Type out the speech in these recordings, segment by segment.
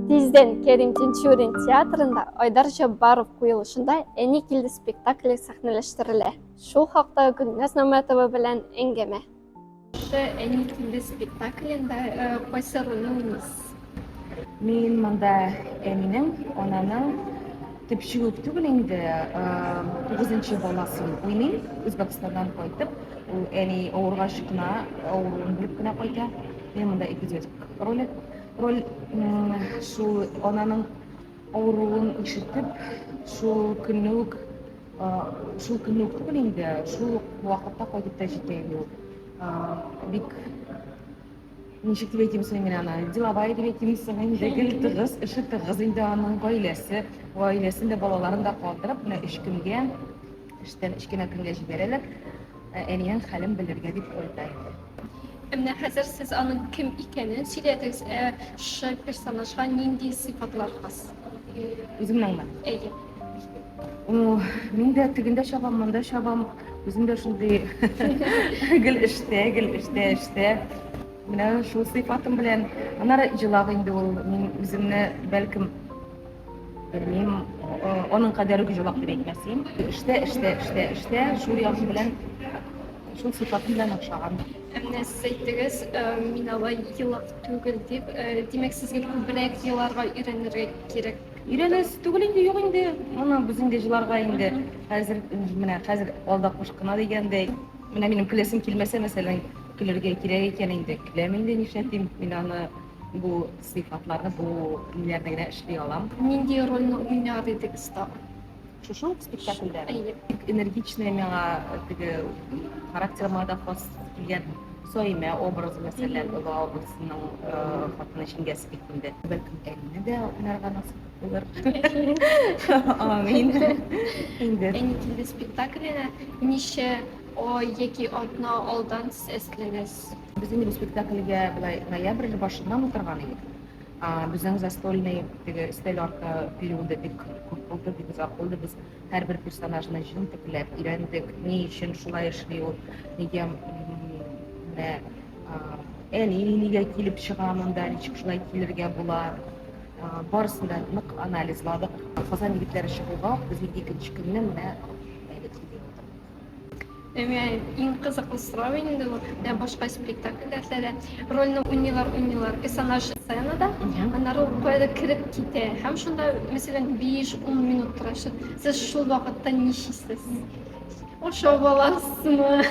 Тиздән Кәрим Тинчурин театрында Айдар Җаббаров куелышында Әни килде спектакле сәхнәләштерелә. Шул хакта Гөлназ Намәтова белән әңгәмә. Шушы Әни килде спектаклендә э, кайсы рольне уйныйсыз? Мин монда әнинең, ананың төпчек үк түгел инде, э, тугызынчы баласын уйныйм. Үзбәкстаннан кайтып, ул әни авыргач кына, авыруын белеп кенә кайта. Менә монда ике дед ролик. Роль шул ананың авыруын ишетеп, шул көнне үк шул көнне үк түгел инде, шул вакытта кайтып та җитә инде ул. Бик ничек дип әйтим соң мин аны, деловая дип әйтим соң инде, гел тыгыз, эше тыгыз инде аның гаиләсе, гаиләсен дә балаларын да калдырып, менә өч көнгә эштән өч кенә көнгә җибәрәләр. Әниең хәлен белергә дип кайта. Менә хәзер сез аның кем икәнен сөйләдегез, ә шы персонажга нинди сыйфатлар хас? Үземнеңме? Әйе. Мин дә тегендә чабам, монда чабам. Үзем дә шундый гел эштә, гел эштә, эштә. Менә шул сыйфатым белән. Аннары җылак инде ул. Мин үземне, бәлкем, Белмим, аның кадәр үк җавап дип әйтмәсен. Эштә, эштә, эштә, эштә, шул ягы белән, шул сыйфаты белән охшаган. Менә сез әйттегез, мин алай елак түгел дип, димәк, сезгә күбрәк еларга өйрәнергә кирәк. Өйрәнәс түгел инде, юк инде. Моны без инде җыларга инде хәзер, менә хәзер алда куш кына дигәндәй. Менә минем көләсем килмәсә, мәсәлән, көлергә кирәк икән инде, көләм инде, нишләтим, мин аны бу сыйфатларны бу илләрдә генә эшли алам. Нинди рольне уйнар идегез тагын? Шушы ук спектакльдә? Әйе. Бик энергичная миңа теге характерыма да хас килгән Саимә образы, мәсәлән, Оба абыйсының хатыны җиңгәсе бик инде. Бәлкем, Әнне дә уйнарга насыйп булыр. Амин. Инде. Әни килде спектакленә ничә ай яки атна алдан сез әзерләнәсез? Без инде бу спектакльгә былай ноябрь башыннан утырган идек. Безнең застольный теге өстәл арты периоды бик күп булды, бик озак булды. Без һәрбер персонажны җентекләп өйрәндек, ни өчен шулай эшли ул, нигә менә әни нигә килеп чыга монда, ничек шулай килергә була. Барысын да нык анализладык. Казан егетләре чыгуга, безнең икенче көнне менә Әмма иң кызыклы сорау инде ул, ә башка спектакльләрдә дә рольне уйныйлар, уйныйлар, персонаж сценада, аннары ул каядыр кереп китә. Һәм шунда, мәсәлән, 5-10 минут тора. Ш- Сез шул вакытта ни чисез? Ашап аласызмы?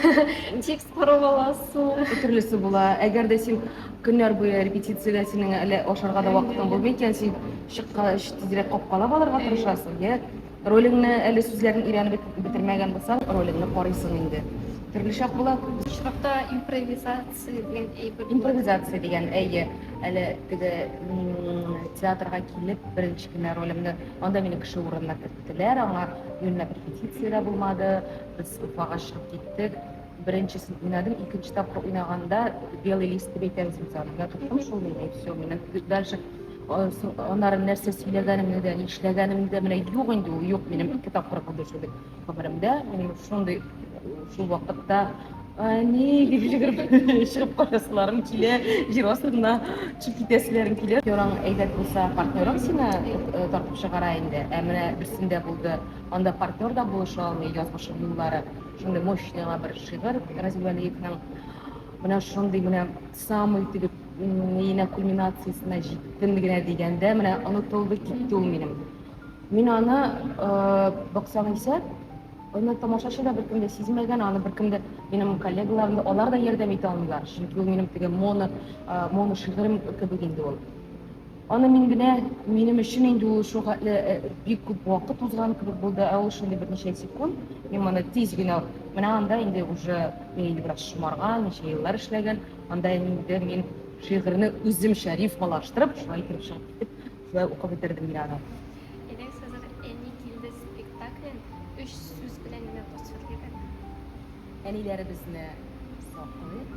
Текст карап аласызмы? Төрлесе була. Әгәр дә син көннәр буе репетициядә синең әле ашарга да вакытың булмый икән, син чыккач тизрәк капкалап алырга тырышасың, йә Ролеңне әле сүзләрен өйрәнеп бет- бетермәгән булсаң, ролеңне карыйсың инде. Төрлечә була. Бу очракта импровизация дигән әйбер. Импровизация дигән, әйе, әле теге м, театрга килеп беренче генә ролемне, анда мине кеше урынына керттеләр, аңа юньләп репетиция дә булмады, без Уфага чыгып киттек. Беренчесен уйнадым, икенче тапкыр уйнаганда белый лист дип әйтәбез без аны. Менә тоттым шул мин, все, мин дальше аннары нәрсә сөйләгәнемне дә, нишләгәнемне дә менә юк инде ул, юк минем ике тапкыр булды шул бит гомеремдә. Мин шундый шул вакытта Әни, дип җигереп, чыгып кайтасыларым килә, җир астына төшеп китәселәрем килә. Йораң әйбәт булса, партнерың сине э, тартып чыгара инде. Ә менә берсендә булды, анда партнер да булыша алмый, язмышым юллары. Шундый мощный аңа бер шигырь Разил Вәлиевның менә шундый менә самый тегеп миенә кульминациясенә җиттем генә дигәндә менә онытылды китте ул минем. Мин аны баксам исә аны тамашачы да беркем дә сизмәгән, аны беркем дә минем коллегаларым да алар да ярдәм итә алмыйлар, чөнки ул минем теге моно моно шигырем кебек инде ул. Аны мин генә, минем өчен инде ул шул хәтле бик күп вакыт узган кебек булды, ә ул шундый берничә секунд, мин моны тиз генә менә анда инде уже бәйле бераз шомарган, ничә еллар эшләгән, анда инде мин шигырьне үземчә рифмалаштырып, шулай итеп чыгып китеп, шулай укып бетердем мин аны. Элек Сазар әни килде спектаклен өч сүз белән генә тасвирлыйк әле. Әниләребезне саклыйк.